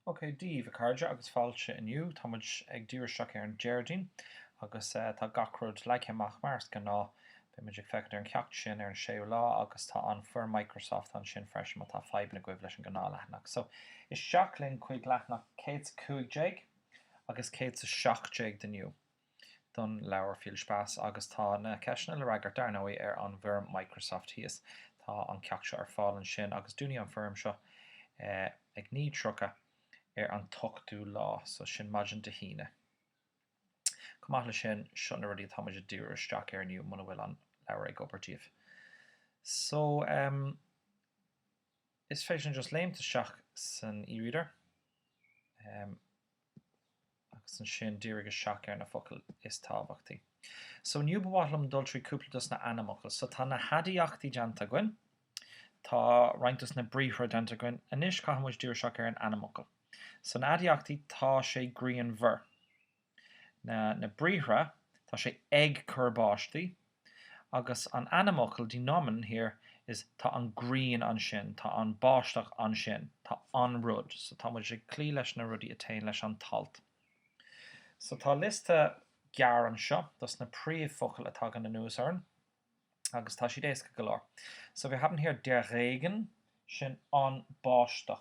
OK, Dia daoibh, a chairde, agus fáilte inniu. Tá muid ag díriú isteach ar an Déardaoin, agus tá gach rud leagtha amach mar is gnáth. Beidh muid ag féachaint ar an ceacht sin ar an 6ú lá, agus tá an foirm Microsoft ansin freisin má tá fadhbanna agaibh leis an gnáth leathanach. So, isteach linn chuig leathanach 115 agus 117 inniu. don leabhar Viel Spaß agus tá na ceisteanna le fhreagairt, dar ndóigh, ar an bhfoirm Microsoft thíos. Tá an ceacht seo ar fáil ansin agus dúnfaidh an foirm seo ag 09:30 ar an t-ochtú lá, so sin maidin Dé hAoine. Chomh maith le sin, seo na rudaí atá muid ag díriú isteach ar inniu muna bhfuil an leabhar ag obair daoibh. So, em, is féidir linn just léimt isteach san e-reader. Em. agus ansin dírigh isteach ar na focail is tábhachtaí. So inniu ba mhaith liom dul trí cúpla dos na ainmfhocail. So tá na haidiachtaí déanta againn, tá roinnt dos na briathra déanta againn, anois caithfidh muid díriú isteach ar an ainmfhocal. So na haidiachtaí, tá sé grianmhar. Na na briathra, tá sé ag cur báistí, Agus an ainmfhocal die Nomen hier is tá an grian ansin, tá an báisteach ansin, tá an rud. So tá muid ag cloí leis na rudaí a téann leis an t-alt. So tá liosta gearr anseo dos na príomhfhocail a tagann anuas orainn agus tá siad éasca go leor. So wir haben hier der Regen, sin an báisteach.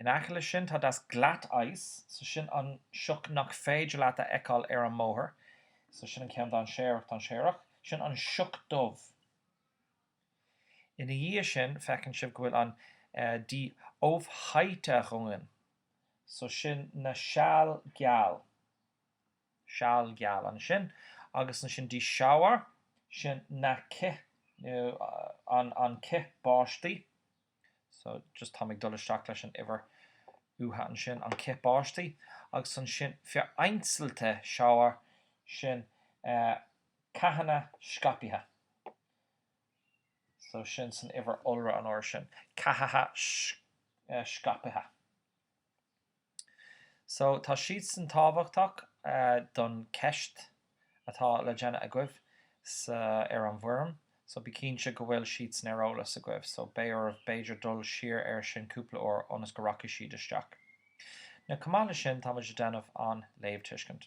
In aice leis sin tá das Glatteis, so sin an sioc nach féidir leat a fheiceáil ar an mbóthar, so sin an ceann dainséarach, dainséarach, sin an sioc dubh. Ina dhiaidh sin feiceann sibh go bhfuil an die Aufheiterungen, so sin na seal geal, seal geal ansin, agus ansin die Schauer, sin na cith nó an cith báistí. so just táim ag dul isteach leis an uimhir uatha ansin, an cith báistí, agus ansin vereinzelte Schauer, sin ceathanna scaipthe, so sin san uimhir iolra an uair sin, ceathacha scaipthe. So, tá siadsan tábhachtach don cheist atá le déanamh agaibh sa, ar an bhfoirm. So, bí cinnte go bhfuil siadsan ar eolas agaibh. So, beidh oraibh b'fhéidir dul siar ar sin cúpla uair ionas go rachaidh siad isteach. Now, chomh maith le sin, tá muid ag déanamh an léamhtuiscint.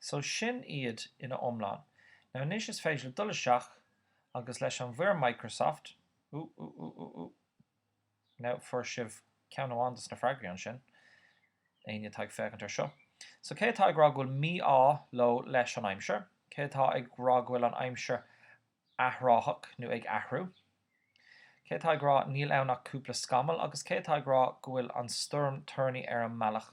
So sin iad ina iomlán. Now anois is féidir libh dul isteach agus leis an bhfoirm Microsoft, ooh ooh ooh ooh ooh now fuair sibh ceann amháin dos na freagraí ansin, éinne atá ag féachaint ar seo. So cé atá ag rá go bhfuil mí-ádh leo leis an aimsir? Cé atá ag rá go bhfuil an aimsir athraitheach nó ag athrú? Cé atá ag rá níl ann ach cúpla scamall agus cé atá ag rá go bhfuil an stoirm toirní ar an mbealach?